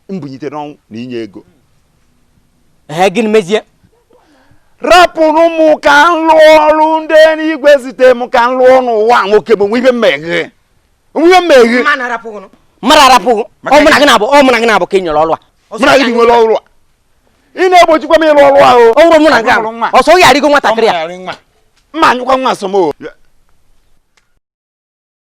mbunite n'ọnwụ na inye ego ee gịnị mezie rapụrụ m ka m lụọ ọrụ ndị eluigwe zite m ka m lụọ n'ụwa nwoke bụ nwe ihe mmeghe nwe ihe mmeghe mmadụ arapụghị ọ mụ na gị na-abụ ọ mụ na gị na-abụ ka e nyere ọrụ a mụ na gị nwere ọrụ a ị na-egbochikwa m ịrụ ọrụ ahụ ọ bụrụ mụ na gị ọsọ ọ ga-arịgo nwatakịrị a mma anyụkwa nwa asọm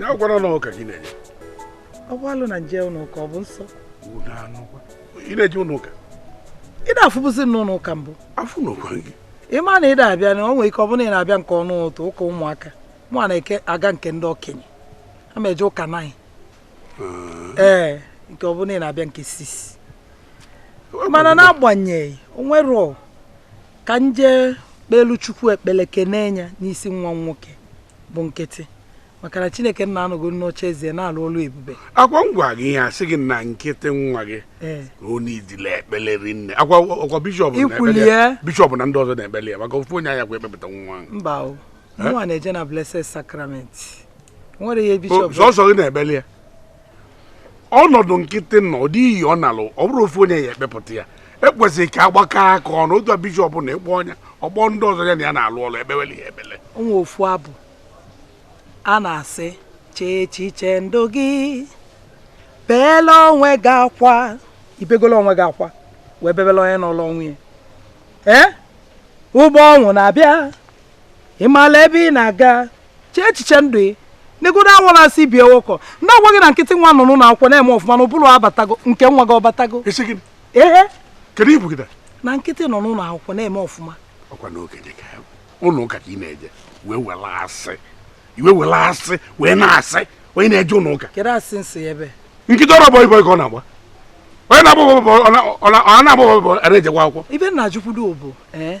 ya gwara na ụka gị na-eje ọ bụ alụ na m je ụlọ ụka ọ bụ nsọ ị na-eje ụlọ ụka ị na-afụbụzi m n'ụlọ ụka mbụ afụ n'ụkwa gị ị ma na ị na-abịa na o nwere ike ọ bụrụ na ị na-abịa nke ọnụ ụtụtụ ụka ụmụaka mụ na-eke aga nke ndị okenye ana m eje ụka nine ee eh, nke ọ bụ na ị na-abịa nke six mana n'agbanyeghị o nwere ka m je kpelu chukwu ekpele kene ya n'isi nwa nwoke bụ nkịtị maka na chineke nna anọgo n'oche eze na-alụ ọlụ ebube ọ kwa m gwa gị ihe asị gị na nkịtị nwa gị eh. o needili ekpele rinne akwa bishọp na ndị ọzọ na-ekpele ya maka ofu onye anya kwa ekpepụta nwa mba nwa na-eje na blessed sacrament nwere ihe bishọp sọsọ gị na-ebeli ya ọnọdụ nkịtị nọ ọ dịghị ọ nalụ ọ bụrụ ofu onye ya ekpepụta ya o kwesịrị ka a gbakọọ aka ọnụ otu a bishọp na ịkpọ ọnya ọgbọ ndị ọzọ ya na ya na-alụ ọlụ ekpeweli ya ekpele o nwe ofu abụ a na-asị chee echiche ndụ gị beela onwe gị akwa i begolu onwe gị akwa wee bebela onye nọọlụ onwe ya ee ụgbọ ọnwụ na-abịa ị maala ebe ị na-aga chee echiche ndụ ị negodo awala asị bie ụkọ ndị agwa gị na nkịtị nwa nọ n'ụlọ akwụkwọ na-eme ọfụma na ụbụrụ abatago nke nwa gị ọ batago ehe kedu ibu gị na nkịtị nọ n'ụlọ akwụkwọ na-eme ọfụma ọkwa n'oge dị ka ụlọ ụka ka ị na-eje wee wela asị iwe wela asị wee na-asị onye na-eje ụlọ ụka kedu asị nsị ebe nkịtị ọrụ boy boy ka ọ na-agba onye na-agba ọ na-agba ọ na-ejekwa akwụkwọ ibe nna jukwudo bụ ee eh?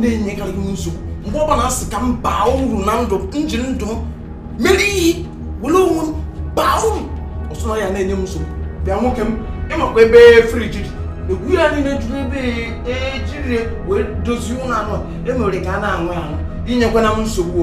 na-enyekarị m nsogbu mgbe ọ bụla asị ka m baa uru na ndụ m ji ndụ m mere ihe were onwe m baa uru ọsọ na ya na-enye m nsogbu bịa nwoke m ị makwa ebe friji dị egwu ya niile juru ebe ejiri e wee dozie ụlọ anụ emere ka a na-anwụ anwụ inyekwana m nsogbu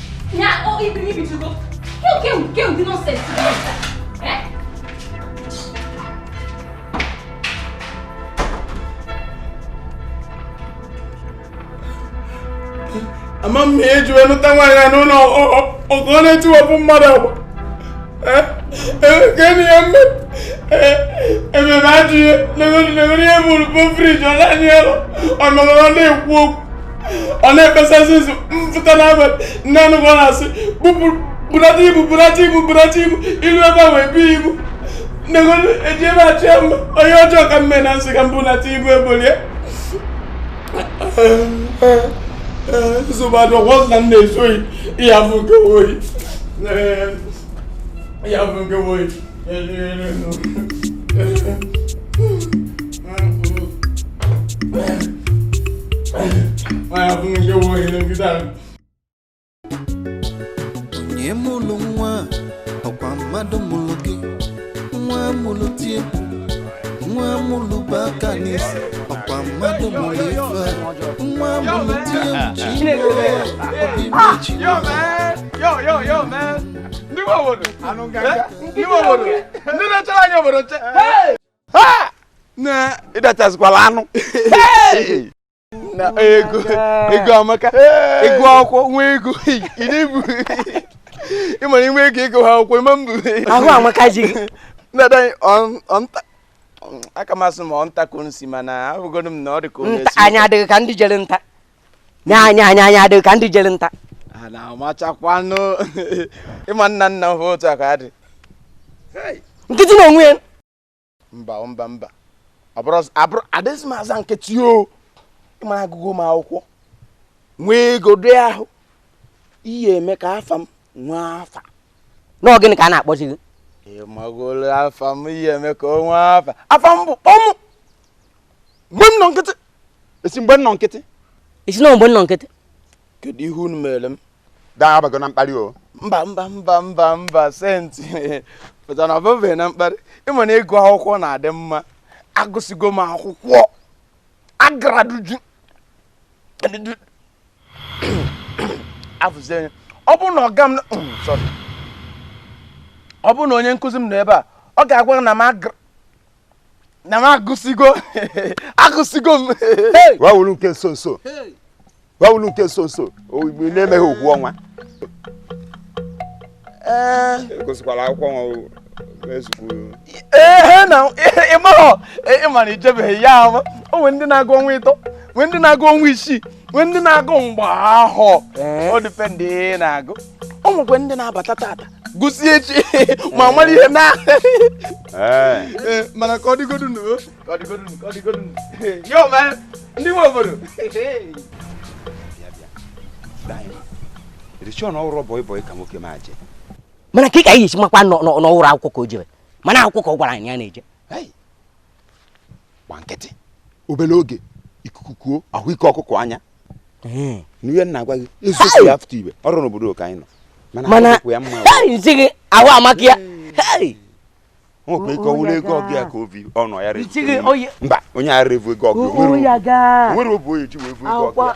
ama m ihe eji wee lụta nwaanyị ya n'ụlọ ọgụ ọ na-etiwapụ mmadụ agba gịnị ya mme ememe ajụ ihe legoro ihe bụrụ bụ friji ọ na-anyị alọ ọ nọrọ na-ekwu okwu ọ na-ekpesasị nso mpụta n'abalị nne anụ ọ na-asị bunata ibu bunata ibu bunata ibu i lu ebe a wee bi ibu negodu eji ebe achị ya mma onye ọjọọ ka m me na m sị ka m bunata ibu ebolie nsogbu adị ọgwọ na m na-ezu oyi ihe afụ nke oyi ihe afụ nke oyi onye mụlụ nwa ọkwa mmadụ mụlụ gị nwa mụlụ tie nwa mụlụ bu aka n'isi ọkwa mmadụ mụlụ fa nwa mụlụ tie mụchi obi mmechi ndị nwe obodo anụ nganga Eh, ndị nwe obodo ndị na-echere anyị obodo nche Ha! na ị dachazikwala anụ Hey! na ego ego amaka ịgụ akwụkwọ nwee ego ị na-ebu ịma na inwe ego ịgụ akwụkwọ ịma mbụ ahụ amaka ji gị na-ada anyị ọ- ọ nta aka masị m ọ nta ka o si mana ahụgo m na ọ dị ka o Nta- anyị adịghị ka ndị jere nta nye anyị anyị anyị adịghị ka ndị jere nta a na-amachakwanụ ịma nna nna m ha otu a ka a dị nkịtị na onwe ya mba mba mba adịzị m aza nkịtị o ịma na agụgo m akwụkwọ nwee ego doo ahụ ihe eme ka afa m nwee afa na ọ gịnị ka a na-akpọzi gị ị magolo afa m ihe eme ka o nwee afa afa m bụ kpọmụ mgbe m nọ nkịtị esi mgbe m nọ nkịtị esi na mgbe m nọ nkịtị kedu ihe unu mere m dabago na mkparị o mba mba mba mba mba senti pụta na ọ bụbeghị na mkparị ịma na ịgụ akwụkwọ na-adị mma agụsịgo m akwụkwọ agraduate-uo afụzi anya ọ bụrụ na ọga m mm, sorry. ọ bụrụ na onye nkụzi m nọ ebe a ọ ga-agwa m na m agara na m agụsigo agụsigo m wawulu nke nso nso wawulu nke nso nso igbe na-emeghị okwu ọnwa agụsikwala akwụkwọ nwa ehe na ịmahọ ịmara ijebeghị ya ahụ o nwere ndị na-agụ ọnwa ịtọ nwee ndị na-agụ ọnwa isii nwee ndị na-agụ mgbe ahụ ọ dịpe ndị na-agụ o nwekwa ndị na-abata tata gụsie echi ma mara ihe na mana ka ọ dịgodu nụ ka ọ dịgodu nụ ka ọ dịgodu nụ yo ma ndị nwe obodo sị na ọrụ boy boy ka nwoke m a je mana ka ị ka anyị esi makwa na ọ wụrụ akwụkwọ ka o jere mana akwụkwọ ka ọ gwara anyị ya na-eje gba nkịtị obere oge ikuku kuo a hụ ike ọkụkọ anya n'ihe m na-agwa gị n'isi ya fụta ibe ọrụ n'obodo ka anyị nọ mana m zi gị ahụ amaka ya nwekwa ike ọ wụrụ ego ọgwụ ya ka obi ọnụ ya mba onye a revu ego ọgwụ nwere obu onye ji wee vu ego ọgwụ ya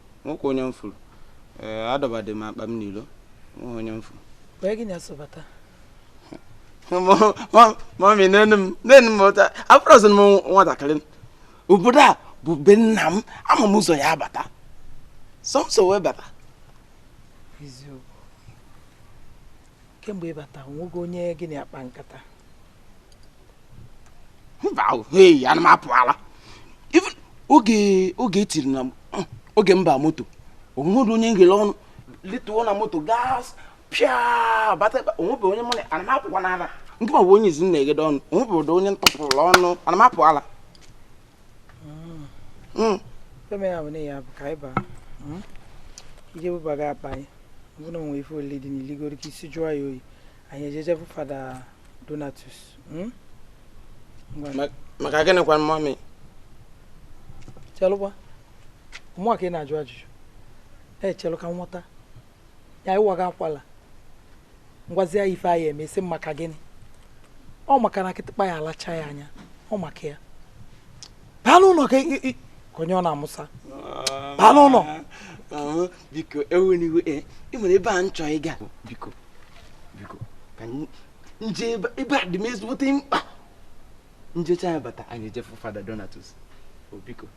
Nweghị onye m fụrụ. Ee, adọbadị m akpa m n'ilo. Nweghị onye m fụrụ. Wee gị na-asọbata. Mummy, nenụ m, nenụ m ụta. Abụrọzị m nwatakịrị. Obodo a bụ be nna m, ama m ụzọ ya abata. Sọ m sọ wee bata. Eziokwu. kemgbe ị bata o nwego onye gị na ya kpa nkata mba hei ana m apụ ala oge oge etiri na mm, oge m ba moto o nweghị onye m ghelụ ọnụ lituo na moto gas pịa bata o nwebe onye mụ na ana m apụkwanụ ala nke ma bụ onye izi na-egede ọnụ o nwebe onye m tupụrụ ọnụ ana m apụ ala hmm. eme ya bụ na ya bụ ka anyị baa hmm? i je bubaga akpa anyị ọ bụ na o nwe ife olili dị n'iligoro ka isi jụọ ya oyi anyị eje je fụ fada donatus hmm? maka gịnịkwa mummy chelụkwa ọ mụa ka ị na-ajụ ajụjụ chelụ ka m wọta ya ị waga akwala m gwazi ya ife anyị eme ị sị maka gịnị ọ maka na kịtịkpa ya alacha ya anya ọ maka ya baa n'ụlọ ka onye ọ na-amụsa baa n'ụlọ biko ewena iwe e, o nwere ebe m chọọ ịga biko biko ka m je ebe a dị m ezigbote mkpa m jecha ya bata anyị eje fụ fada donatus biko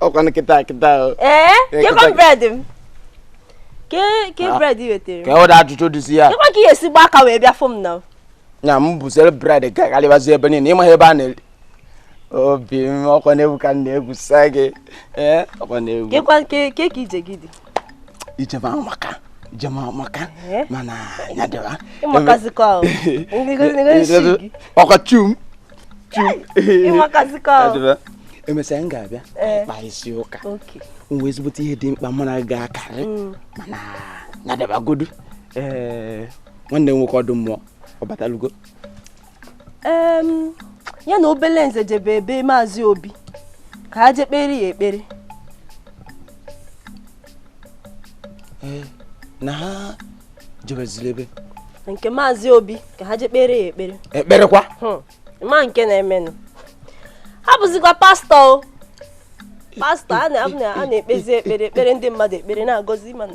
ọkwanụ kịta kịta ee kekwa bread m ke bread wetara ka ọ dị ajụjụ dịzi ya kekwa ka ị ya-esi gba aka wee bịa fụ m na ya m buziri bread gagharịbazi ebe niile ịmaghị ebe a na-eri obi m ọkwa na egwu ka m na-egwusa gị ee ọkwa na egwu kekwa nke ke ka ije gị dị ije m amaka ije m amaka Ee? mana ya dịwa ịmakazikọ ahụ ọkwa chum chum ịmakazikọ Ya ahụ dịwa. emesịa m ga-abịa Ee. kpasịa ụka o nwere ezigbote ihe dị mkpa mụ na gị ga-akarị mana ya dịbagodu ee nwanne m nwoke Ọdụmmụọ ọ batalugo ya na Obeleze jebe ebe maazị obi ka ha jee kpere ya ekpere eh, na ha jebeziri ebe nke maazị obi ka ha jee kpere ya ekpere ekperekwa hmm, ma nke na-emenụ ha bụzikwa pastọ o pastọ a na-ekpezi ekpere ekpere ndị mmadụ ekpere na-agọzi mana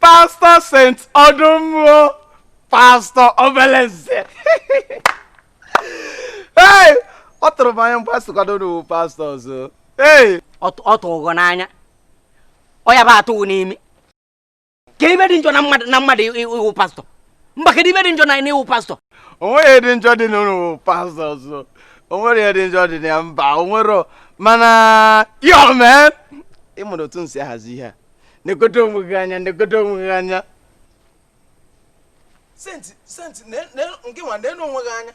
pastọ sent ọdụmmụọ pastọ obeleze ee ọ tụrụ m n'anya mgbe a sịkwanụ n'ụnụ wụ pastọ ọzọ ee ọ tụrụ gị n'anya ọ ya bụ atụ gị n'imi ke ihe dị njọ na mmadụ na mmadụ ịwụ pastọ mba kedu ihe dị njọ na ịwụ pastọ o nweghị ihe dị njọ dị n'ịwụ pastọ ọzọ o nwere ihe dị njọ dị na ya mba o nwero mana yo man ị mara otu m si ahazi ihe a negodo onwe gị anya negodo onwe gị anya senti senti nke nwa nenu onwe gị anya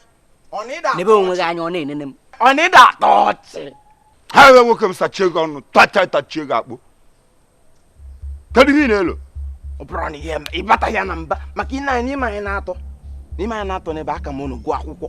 ọ na ịda nebe onwe gị anya ọ na-enene m ọ na ịda atọ ọchị ha ewe nwoke m sachie gị ọnụ tacha tachie gị akpọ kedu ihe ị na-elo ọ bụrụ na ihe ịbata ya na mba maka ị na-anya n'ime anyị n'atọ n'ime anyị n'atọ n'ebe a aka m unu gụọ akwụkwọ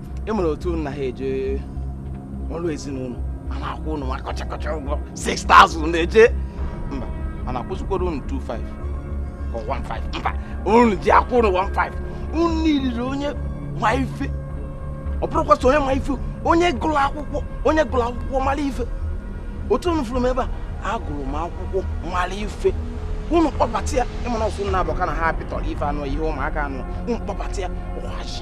ị mara otu ụnụ na ha eje ọrụ ezinụlọ a na-akwụ ụnụ nwa kọchakọcha ụgwọ 6000 na-eje mba a na-akwụzikwara ụnụ 25 ka 15 mba ụnụ ji akwụ ụnụ 15 ụnụ niile onye ma ife ọ bụrụkwa so onye ma ife onye gụrụ akwụkwọ onye gụrụ akwụkwọ mara ife otu ụnụ fụrụ m ebe a agụrụ m akwụkwọ mara ife unu kpọbata ya ị ma na ọ ụnụ naabọ ka na ha pịtọrọ ife anụ ihe ụmụaka anụ unu kpọbata ya ọhaji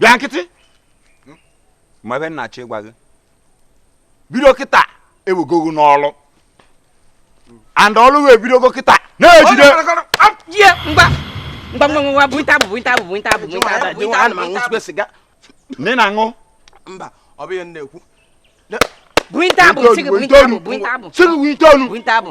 bịa nkịtị ma ihe m na-achọ ịgwa gị bido kịta ewegogo n'ọlụ and ọlụ wee bidogo kịta na-ejide nne na-aṅụ mba ọ bụ ihe m na-ekwu Buintabu, siga buintabu, buintabu. Siga buintabu. Buintabu.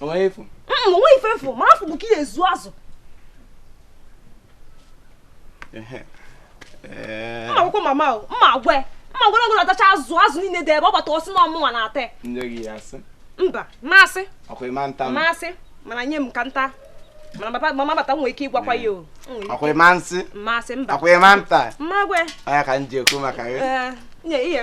onweghị ifu mm, onweghị ife efu ma afụ bụ ka ị na-ezu azụ mma agwakwa mama o mma agwa ya mma agwa na ọ gị na-atacha azụ azụ niile dị ebe ọ bata ọ sị na ọ mụnwa na-ata mba ma asị ma asị mana nye m ka m ta mana mama bata nwere ike ịgwakwa ya o akwai ma nsị ma nsị mba akwai ma nta mma agwa ya ọ ya ka m ji ekwu maka gị nye ihe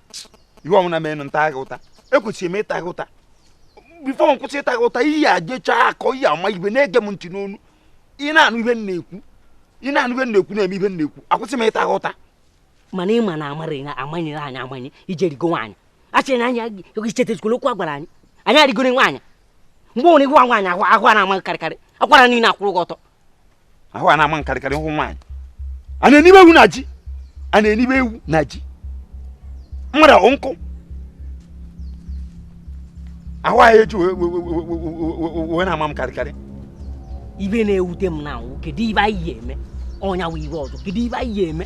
ihe ọbụla mee na m ta gị ụta ekwesịrị m ịta gị ụta before m kwụsị ịta gị ụta ị ya ejecha akọ ị ya ama ibe na-ege m ntị n'ọnụ ị na-anụ ihe m na-ekwu ị na-anụ ihe m na-ekwu na-eme ihe m na-ekwu akwụsị m ịta gị ụta mana ịma na amara ya amanyere anyị amanye ije rịgo nwaanyị achịrị na anya ichetezikwala okwu a gwara anyị anyị arịgoro nwaanyị mgbe onwere gwa nwaanyị ahụ ahụ a na-ama gị karịkarị akwara niile akwụrụ gị ọtọ ahụ a na-ama m karịkarị hụ nwaanyị a na-enibe ewu na ji a na-enibe ewu na ji mmadụ ọ wụ nkụ ahụ ya eji wee na-ama m karịkarị ibe na-ewute m now wụ kedu ibe anyị ya eme ọ nya wụ ibe ọzọ kedu ibe anyị ya eme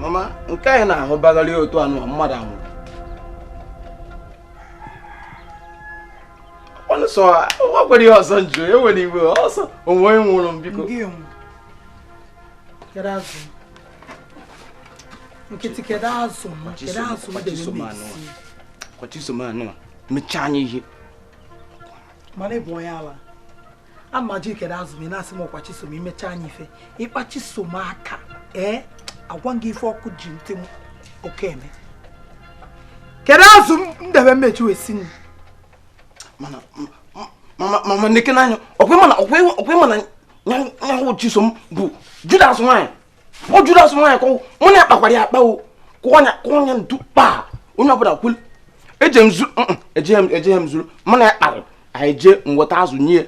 mama nke anyị na-ahụ bagharị otu anụ mmadụ anwụrụ ọnụ sọ ọ gwara ihe ọzọ njụ e nwere iwe ọsọ onwe onye nwụrụ m biko nkịtị kedu azụ m kedu azụ m debe m esi ọkwa chisom anụ a mechaa anyị ihe mana ị bụ onye ala a m ajụ gị kedu azụ m ị na-asị m ọkwa chisom emecha anyị ife ịkpa chisom aka ee agwa m gị ife ọkụ ji ntị oke eme kedu azụ m debe m eji wee si nri mana mama nekene anya ọkwa ịma na ọkwa ịma na nya wụ chisom bụ judas nwanyị ọ judas nwaanyị ka ọ wụ mụ na ya kpakwara ya akpa o kụọ anya kụọ anya ntu kpaa onye ọbụla kwelu eje m zuru ejeghị m ejeghị m zuru mụ na ya kpara anyị jee weta azụ nye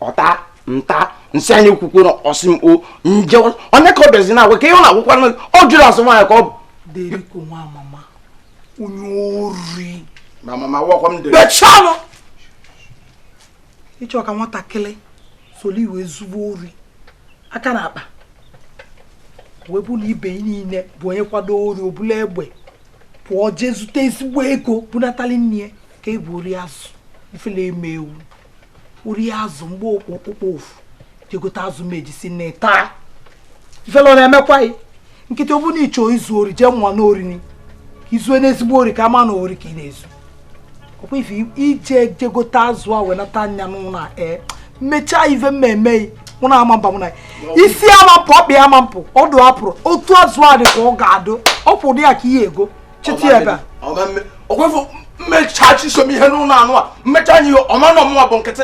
ọ ta m ta m sị ya ekwukwana ọ sị m o nje onye ka ọ bịazi na agwa ka ihe ọ na-akọkwa ọ judas nwaanyị ka ọ bụ deriko nwa mama onye ori mama wakwa m dere bịa chalụ ịchọ ka nwatakịrị soro i wee zuo ori aka na akpa wee bụ na ibe niile bụ onye kwado ori o bulu egbe pụọ jee zute ezigbo ego bunatali nne ya ka ị bụ ori azụ ifele eme ewu ori azụ mgbe okpokpo ofu jegote azụ m eji si nni taa ifele na-emekwa gị nkịta ọ bụ na ị chọọ izu ori jee mụọ n'orini ka i zue n'ezigbo ori ka a ma na ori ka ị na-ezu ọkwa ife ije jegote azụ a wee nata anya n'ụlọ a ee mechaa ife mmemme mụ na ama mba mụ na isi ama mpụ ọkpị ama mpụ ọdụ apụrụ otu azụ a dị ka ọ ga-adụ ọ pụrụ dị ya ka ihe ego cheta ya ebe a ọkwa ife m mechaa chisom ihe n'ụlọ anụ a m mechaa anyị ọ ma na ọ mụnwa bụ nkịtị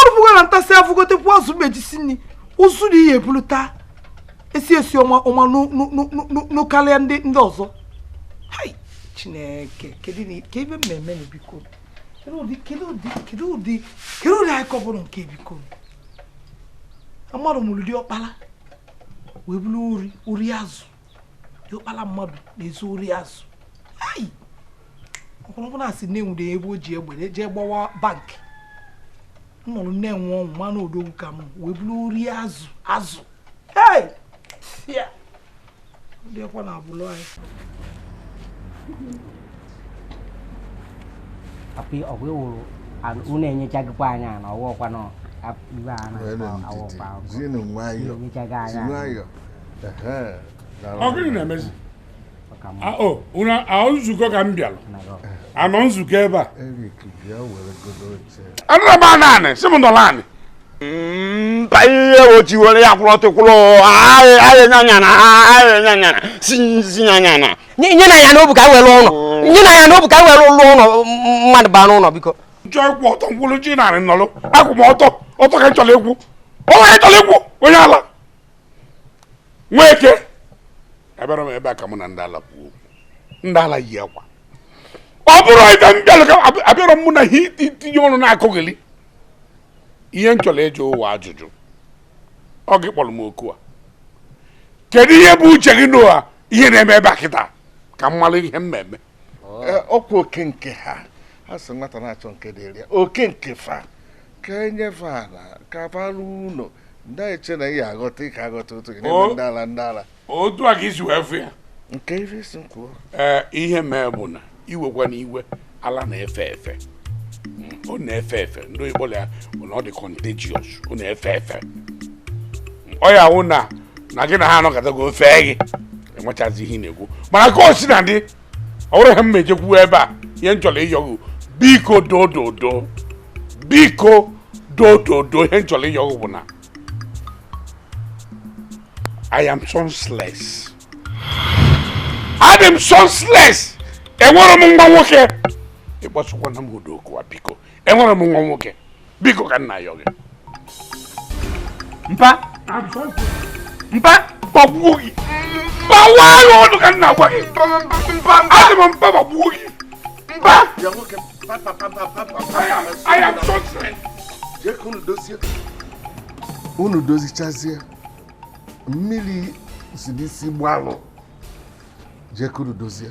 ọrụbụga na ntasị afụgotekwu azụ m eji si nri ụzụ na ihe e bulu taa esi isi ọma ọma n'ụkarịa ndị ndị ọzọ chineke kedu ebe mmemme na biko kedu ụdị kedu ụdị kedu ụdị kedu ụdị anyị kọbụrụ nke biko mmadụ mụrụ diọkpara wee bụrụ ori ori azụ diokpala mmadụ na-ezu ori azụ ọ bụrụkwa na a sị na e nwude ebe o ji egbe jee gbawa bank m nọrọ na-enwe ọṅụ ma na odogwu ka m wee bụrụ ori azụ azụ ndị ọkwa na abụlụ anyị api ọgwụ wụrụ unu enyechaghịkwa anyị na ọwa ọkwa nọ iwe a na-awọkwa enyechaghị anyị ọ gịnị na-emezi ahụ nzukọ ka m bịara a nọ nzukọ ebe a anụrụ m anụ anị sị m nọrọ anị mba ihe o ji were ya kwụrụ ọtọ kwụrụ ahịa nyanyana ahịa nyanyana si nzi nyanyana nye na ya n'obu ka were ụlọ nye na ya n'obu ka were ụlọ ụlọ mmadụ bara ụlọ biko m chọọ ịkwụ ọtọ m kwụrụ ji narị nọrọ akwụ m ọtọ ọtọ ka m chọrọ ịkwụ o nwere chọrọ ịkwụ onye ala nweke abịarọ m ebe a ka mụ na ndị ala kwuo ndị ala yi akwa ọ bụrọ ife m bịara ka abịarọ mụ na ihe itinye ọnụ na akọgheli ihe m chọrọ ịjụ ụwa ajụjụ ọ gị kpọrọ m oku a kedu ihe bụ uche gị n'ụwa ihe na-eme ebe a kịta ka m mara ihe m na-eme ọkwa oke nke ha ha si nwata na-achọ nke dịrị ya oke nke fa ka e nyefe ala ka bara ụlọ ndị eche na ihe aghọta ike aghọta otu gị n'ebe ndị ala ndị ala otu a ka i si wee fụ ya nke ife si m kwuo ee ihe mee bụ na iwekwa na iwe ala na-efe efe ọ na-efe efe ndị oyibo ya bụ na ọ dị contagious ọ na-efe efe ọ ya wụ na na gị na ha anọkọtago o fee gị enwechazi ihe ị na-ekwu mana ka o sina dị ọ bụrọ ihe m eji kwụ ebe a ihe m chọrọ ịyọ gị biko dododo biko dododo ihe m chọrọ ịyọ gị bụ na I am sonsless adị m sonsless enwerọ m nwa nwoke ịkpọsịkwana m ụdị okwu a biko enwere m nwa nwoke biko ka m na-ayọ gị mpa mpa gbagbuo gị mpa waa ya ọnụ ka m na-agwa gị adị m mpa gbagbuo gị mpa unu dozichazie mmili si n'isi gbalụọ jekenụ dozie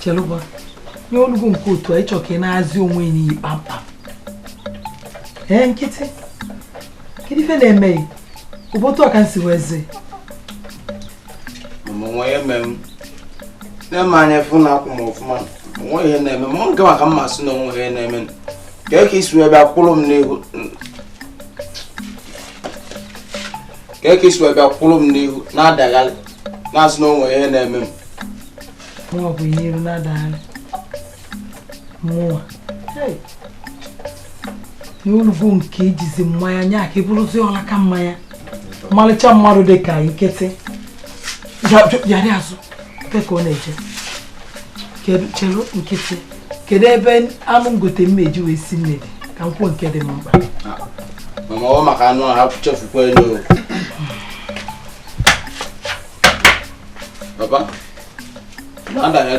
chelụba nye olugo nke etu a ị chọ ka ị naazi onwe ị n'iyi kpamkpam ee nkịtị kedu ife na-eme ị ọ bụ etu a ka e si wee zi nwa ya eme m nee m anya fụ na akwụ m ọfụma nwe ihe na-eme m nke maka mmasị na o nwe ihe na-eme m kee ka i si wee bịa kwụrụ m n'ihu kee ka i si wee bịa kwụrụ m n'ihu na-adagharị na-asị na o nwe ihe na-eme m mụnwa bụ ihe iru na-adagharị mụnwa n'olugo nke ejizi mmanya nya ka ị bụrụzi ọlaka mmanya ọmalịcha mmadụ dị ka nkịtị yarị azụ ka ọ na-eje chelu nkịtị kedu ebe anụ m gote m eji wee si mmiri ka m nke dị m mkpa maka anụ ahụ chefukwa elu Papa, manda ya